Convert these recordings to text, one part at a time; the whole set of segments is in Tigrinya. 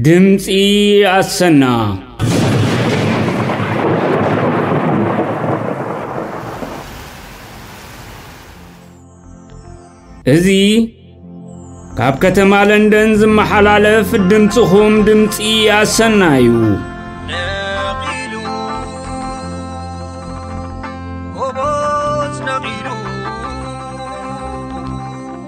ድምፂ ኣሰና እዚ ካብ ከተማ ለንደን ዝመሓላለፍ ድምፅኹም ድምፂ ኣሰና እዩ ነቒሉ ጎቦዝ ነቒሉ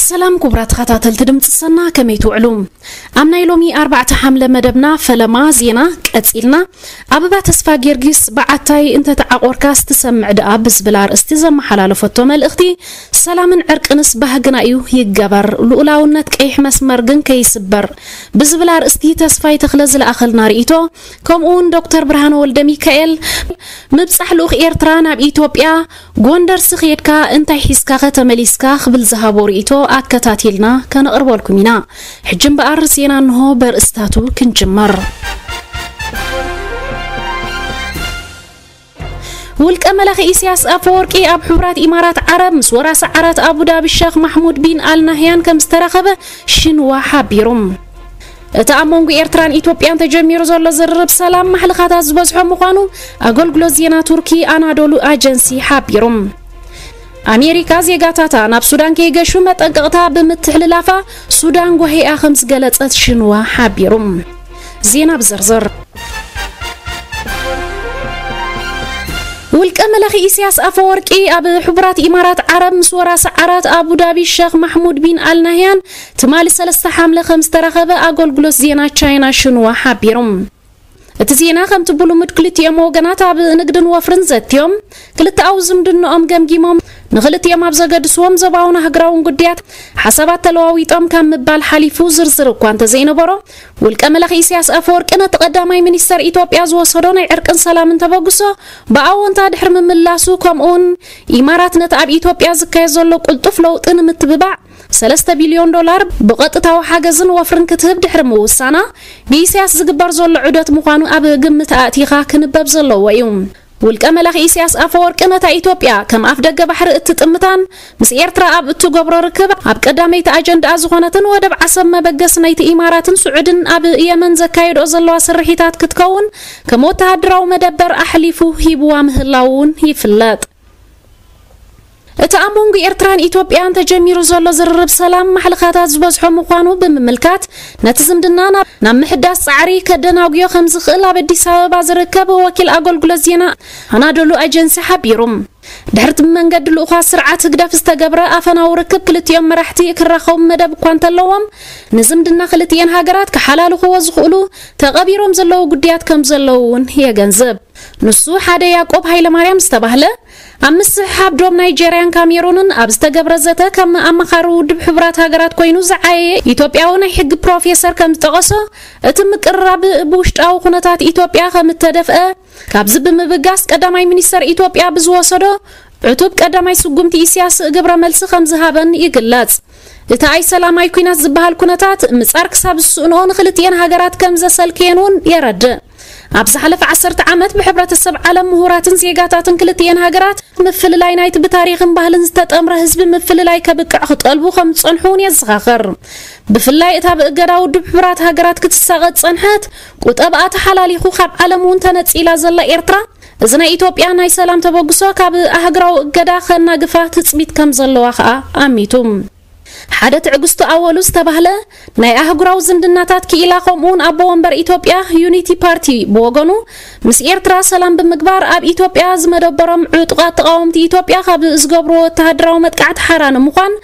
ሰላም ኩቡራት ተኸታተልቲ ድምጺ ሰና ከመይ ትውዕሉ ኣብ ናይ ሎሚ ኣርባዕተ ሓምለ መደብና ፈለማ ዜና ቀጺልና ኣበባ ተስፋ ጊዮርጊስ በዓታይ እንተተዓቆርካስ ትሰምዕ ደኣ ብዝብል ኣርእስቲ ዘመሓላለፈቶ መልእኽቲ ሰላምን ዕርቅንስ ባህግና እዩ ይገበር ልኡላውነት ቀይሕ መስመር ግን ከይስበር ብዝብል ኣርእስቲ ተስፋይ ተኽለ ዝለኣኸልና ርእይቶ ከምኡውን ዶክተር ብርሃነ ወልደ ሚካኤል ምብጻሕ ልኡኽ ኤርትራ ናብ ኢትዮጵያ ጎንደርሲ ኬድካ እንታይ ሒዝካኸ ተመሊስካ ክብል ዝሃቦ ርኢቶ ኣከታቲልና ከነቕርበልኩም ኢና። ሕጂ እምበኣር ዜና እንሆ በርእስታቱ ክንጅምር። ውልቀ መላኺ ኢሳያስ ኣፈወርቂ ኣብ ሕቡራት ኢማራት ዓረብ ምስ ወራሲ ዓራት ኣቡዳቢ ሸኽ ማሕሙድ ቢን ኣልናህያን ከም ዝተራኸበ ሽንዋ ሓቢሩ። እቲ ኣብ መንጉ ኤርትራን ኢትዮጵያን ተጀሚሩ ዘሎ ዝርርብ ሰላም ማሕልኻታት ዝበዝሖ ምዃኑ ኣገልግሎት ዜና ቱርኪ ኣናዶሉ ኣጀንሲ ሓቢሩ። ኣሜሪካ ዜጋታታ ናብ ሱዳን ከይገሹ መጠንቀቕታ ብምትሕልላፋ ሱዳን ጓሂኣ ከም ዝገለጸት ሽንዋ ሓቢሩ። ዜና ብዝርዝር ውልቀ መላኺ ኢሳያስ ኣፈወርቂ ኣብ ሕቡራት ኢማራት ዓረብ ምስ ወራሲ ዓራት ኣቡዳቢ ሸኽ ማሕሙድ ቢን ኣልናህያን ትማሊ ሰለስተ ሓምለ ከም ዝተረኸበ ኣገልግሎት ዜና ቻይና ሽንዋ ሓቢሩ። እቲ ዜና ከምቲ ብልሙድ ክልቲኦም ወገናት ኣብ ንግድን ወፍርን ዘትዮም ክልተኣዊ ዝምድንኦም ገምጊሞም ንክልቲኦም ኣብ ዘገድስዎም ዞባውን ኣህግራውን ጉዳያት ሓሳባት ተለዋዊጦም ካብ ምባል ሓሊፉ ዝርዝር እኳ እንተዘይነበሮ ውልቀ መላኺ ኢሳያስ ኣፈወርቂ ነቲ ቀዳማይ ሚኒስተር ኢትዮጵያ ዝወሰዶ ናይ ዕርቅን ሰላምን ተበግሶ ብኣዎንታ ድሕሪ ምምላሱ ከምኡውን ኢማራት ነቲ ኣብ ኢትዮጵያ ዝካየድ ዘሎ ቅልጡፍ ለውጢ ንምትብባዕ ሰለስተ ቢልዮን ዶላር ብቐጥታዊ ሓገዝን ወፍርን ክትህብ ድሕሪ ምውሳና፣ ብኢሳያስ ዝግበር ዘሎ ዑደት ምዃኑ ኣብ ግምት ኣእቲኻ ክንበብ ዘለዎ እዩ። ውልቀ መላኺ ኢሳያስ ኣፈወርቂ ነታ ኢትዮጵያ ከም ኣፍደገ ባሕሪ እትጥምታን ምስ ኤርትራ ኣብ እትገብሮ ርክብ ኣብ ቀዳመይቲ ኣጀንድኣ ዝኾነትን ወደብ ዓሰብ መበገሲ ናይቲ ኢማራትን ስዑድን ኣብ የመን ዘካየድኦ ዘለዋ ስርሒታት ክትከውን ከም ወተሃደራዊ መደበር ኣሕሊፉ ሂብዋ ምህላዉ እውን ይፍለጥ። እቲ ኣብ መንጎ ኤርትራን ኢትዮጵያን ተጀሚሩ ዘሎ ዝርርብ ሰላም ማሕልኻታት ዝበዝሖ ምዃኑ ብምምልካት ነቲ ዝምድና ናብ ምሕዳስ ጻዕሪ ከደናጉዮ ከም ዝኽእል ኣብ ኣዲስ ኣበባ ዝርከብ ወኪል ኣገልግሎት ዜና ኣናዶሉ ኤጀንሲ ሓቢሩ። ድሕርቲ ብመንገዲ ልኡዃት ስርዓት ህግደፍ ዝተገብረ ኣፈናዊ ርክብ ክልቲኦም መራሕቲ ክራኸቡ መደብ እኳ እንተለዎም ንዝምድና ክልቲኤን ሃገራት ክሓላልኽዎ ዝኽእሉ ተቐቢሮም ዘለዉ ጉዳያት ከም ዘለዉ እውን የገንዝብ። ንሱ ሓደ ያቆብ ሃይለማርያም ዝተባህለ ኣብ ምስሕሓብ ዶብ ናይጀርያን ካሜሩንን ኣብ ዝተገብረ ዘተ ከም ኣማኻሪ ውድብ ሕቡራት ሃገራት ኮይኑ ዝዓየየ ኢትዮጵያዊ ናይ ሕጊ ፕሮፌሰር ከም ዝጠቐሶ እቲ ምቅርራብ ብውሽጣዊ ኩነታት ኢትዮጵያ ከም እተደፍአ ካብዚ ብምብጋስ ቀዳማይ ሚኒስተር ኢትዮጵያ ብዝወሰዶ ዕቱብ ቀዳማይ ስጉምቲ ኢስያስ ግብረ መልሲ ከም ዝሃበን ይግለጽ። እቲ ኣይ ሰላማይ ኩናት ዝበሃል ኩነታት ምጻር ክሳብ ዝስእንኦ ንክልቲኤን ሃገራት ከም ዘሰልክየን እውን የረድእ። ኣብ ዝሓለፈ ዓሰርተ ዓመት ብሕብረተሰብ ዓለም ምሁራትን ዜጋታትን ክልትኤን ሃገራት ምፍልላይ ናይቲ ብታሪኽን ባህልን ዝተጠምረ ህዝቢ ምፍልላይ ከብቅዕ ክጠልቡ ከም ዝጸንሑ እውን የዘኻኽር። ብፍላይ እታ ብእገዳ ውድብ ሕቡራት ሃገራት ክትሳቐ ዝጸንሐት ቁጠብኣ ተሓላሊኹ ካብ ዓለም እውን ተነጺላ ዘላ ኤርትራ እዚ ናይ ኢትዮጵያ ናይ ሰላም ተበግሶ ካብ ኣህግራዊ እገዳ ከናግፋ ትጽቢት ከም ዘለዋ ከኣ ኣሚቱ። ሓደ ትዕግስቱ ኣወሉ ዝተባህለ ናይ ኣህጉራዊ ዝምድናታት ክኢላ ከምኡውን ኣቦ ወንበር ኢትዮጵያ ዩኒቲ ፓርቲ ብወገኑ ምስ ኤርትራ ሰላም ብምግባር ኣብ ኢትዮጵያ ዝመደበሮም ዕጡቓት ተቓወምቲ ኢትዮጵያ ካብ ዝገብርዎ ወተሃደራዊ መጥቃዕቲ ሓራ ንምዃን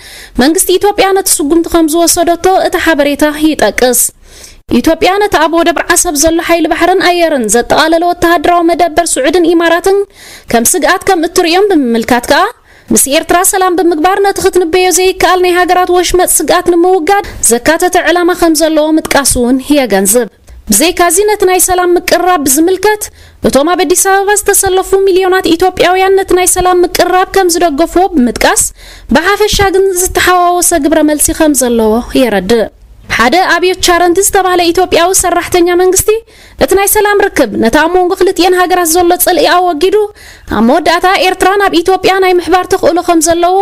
መንግስቲ ኢትዮጵያ ነቲ ስጉምቲ ከም ዝወሰደቶ እቲ ሓበሬታ ይጠቅስ። ኢትዮጵያ ነቲ ኣብ ወደብ ዓሰብ ዘሎ ሓይሊ ባሕርን ኣየርን ዘጠቓለለ ወተሃደራዊ መደበር ስዑድን ኢማራትን ከም ስግኣት ከም እትርእዮም ብምምልካት ከኣ ምስ ኤርትራ ሰላም ብምግባር ነቲ ክትንበዮ ዘይከኣል ናይ ሃገራት ወሽመጥ ስግኣት ንምውጋድ ዘካተተ ዕላማ ከም ዘለዎ ምጥቃሱ እውን የገንዝብ። ብዘይካዚ ነቲ ናይ ሰላም ምቅርራብ ብዝምልከት እቶም ኣብ ኣዲስ ኣበባ ዝተሰለፉ ሚልዮናት ኢትዮጵያውያን ነቲ ናይ ሰላም ምቅርራብ ከም ዝደገፍዎ ብምጥቃስ ብሓፈሻ ግን ዝተሓዋወሰ ግብረ መልሲ ከም ዘለዎ የረድእ። ሓደ ኣብዮት ቻረንቲ ዝተባህለ ኢትዮጵያዊ ሰራሕተኛ መንግስቲ እቲ ናይ ሰላም ርክብ ነቲ ኣብ መንጎ ክልቲኤን ሃገራት ዘሎ ጽልኢ ኣወጊዱ ኣብ መወዳእታ ኤርትራ ናብ ኢትዮጵያ ናይ ምሕባር ተኽእሎ ከም ዘለዎ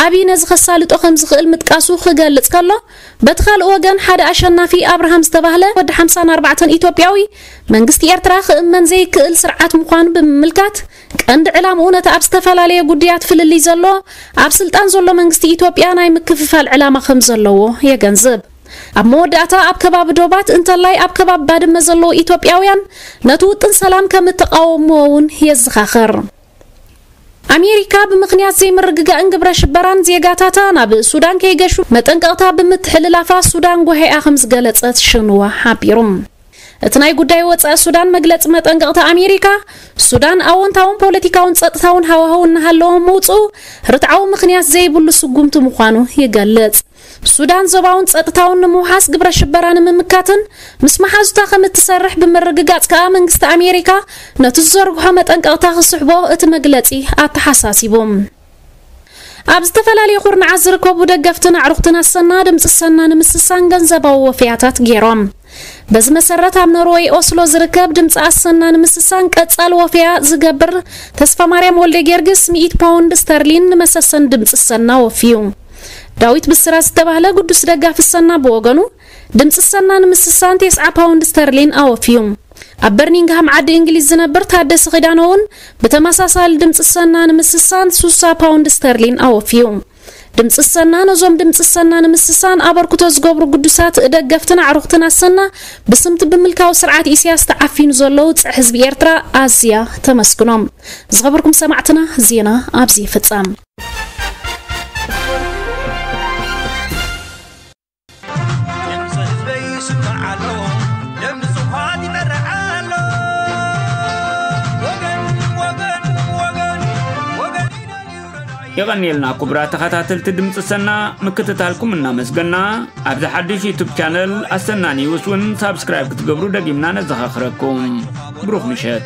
ኣብይ ነዚ ከሳልጦ ከም ዝኽእል ምጥቃሱ ክገልጽ ከሎ በቲ ካልእ ወገን ሓደ ኣሸናፊ ኣብርሃም ዝተባህለ ወዲ ሓምሳን ኣርባዕተን ኢትዮጵያዊ መንግስቲ ኤርትራ ክእመን ዘይክእል ስርዓት ምዃኑ ብምምልካት ቀንዲ ዕላምኡ ነቲ ኣብ ዝተፈላለየ ጉድያት ፍልልይ ዘሎ ኣብ ስልጣን ዘሎ መንግስቲ ኢትዮጵያ ናይ ምክፍፋል ዕላማ ከም ዘለዎ የገንዝብ። ኣብ መወዳእታ ኣብ ከባቢ ዶባት እንተላይ ኣብ ከባቢ ባድመ ዘለዉ ኢትዮጵያውያን ነቲ ውጥን ሰላም ከም እተቓወምዎ እውን የዘኻኽር። ኣሜሪካ ብምኽንያት ዘይምርግጋእን ግብረ ሽበራን ዜጋታታ ናብ ሱዳን ከይገሹ መጠንቀቕታ ብምትሕልላፋ ሱዳን ጓሂኣ ከም ዝገለጸት ሽንዋ ሓቢሩ። እቲ ናይ ጉዳይ ወፃኢ ሱዳን መግለፂ መጠንቀቕታ ኣሜሪካ ሱዳን ኣዎንታውን ፖለቲካውን ጸጥታውን ሃዋህው እናሃለዎም ምውፅኡ ርትዓዊ ምኽንያት ዘይብሉ ስጉምቲ ምዃኑ ይገልጽ። ሱዳን ዞባውን ጸጥታውን ንምውሓስ ግብረ ሽበራ ንምምካትን ምስ መሓዙታ ከም እትሰርሕ ብምርግጋጽ ከኣ መንግስቲ ኣሜሪካ ነቲ ዝዘርግሖ መጠንቀቕታ ክስሕቦ እቲ መግለጺ ኣተሓሳሲቡ። ኣብ ዝተፈላለየ ኩርናዓት ዝርከቡ ደገፍትን ኣዕሩኽትን ኣሰና ድምፂ ሰና ንምስሳን ገንዘባዊ ወፈያታት ገይሮም። በዚ መሰረት ኣብ ኖርወይ ኦስሎ ዝርከብ ድምፂ ኣሰና ንምስሳን ቀፃሊ ወፈያ ዝገብር ተስፋ ማርያም ወልደ ጊዮርጊስ 100 ፓውንድ ስተርሊን ንመሰሰን ድምፂ ሰና ወፍዩ ዳዊት ብስራት ዝተባህለ ግዱስ ደጋፊ ሰና ብወገኑ ድምፂ ሰና ንምስሳን ቴስዓ ፓውንድ ስተርሊን ኣወፍዩ ኣብ በርሚንግሃም ዓዲ እንግሊዝ ዝነብር ታደሰ ኺዳነ እውን ብተመሳሳሊ ድምፂ ሰና ንምስሳን ሱሳ ፓውንድ ስተርሊን ኣወፍዩ ድምፂ ኣሰና ነዞም ድምፂ ኣሰና ንምስሳን ኣበርክቶ ዝገብሩ ግዱሳት ደገፍትን ኣዕሩኽትን ኣሰና ብስምቲ ብምልካዊ ስርዓት ኢሳያስ ተዓፊኑ ዘሎ ውፅዕ ህዝቢ ኤርትራ ኣዝያ ተመስግኖም። ዝኸበርኩም ሰማዕትና ዜና ኣብዚ ይፍጸም። የቐንየልና ኩቡራ ተኸታተልቲ ድምፂ ሰና ምክትታልኩም እናመስገና ኣብዚ ሓድሽ ዩቱብ ቻነል ኣሰና ኒውስ እውን ሳብስክራይብ ክትገብሩ ደጊምና ነዘኻኽረኩም ብሩኽ ምሸት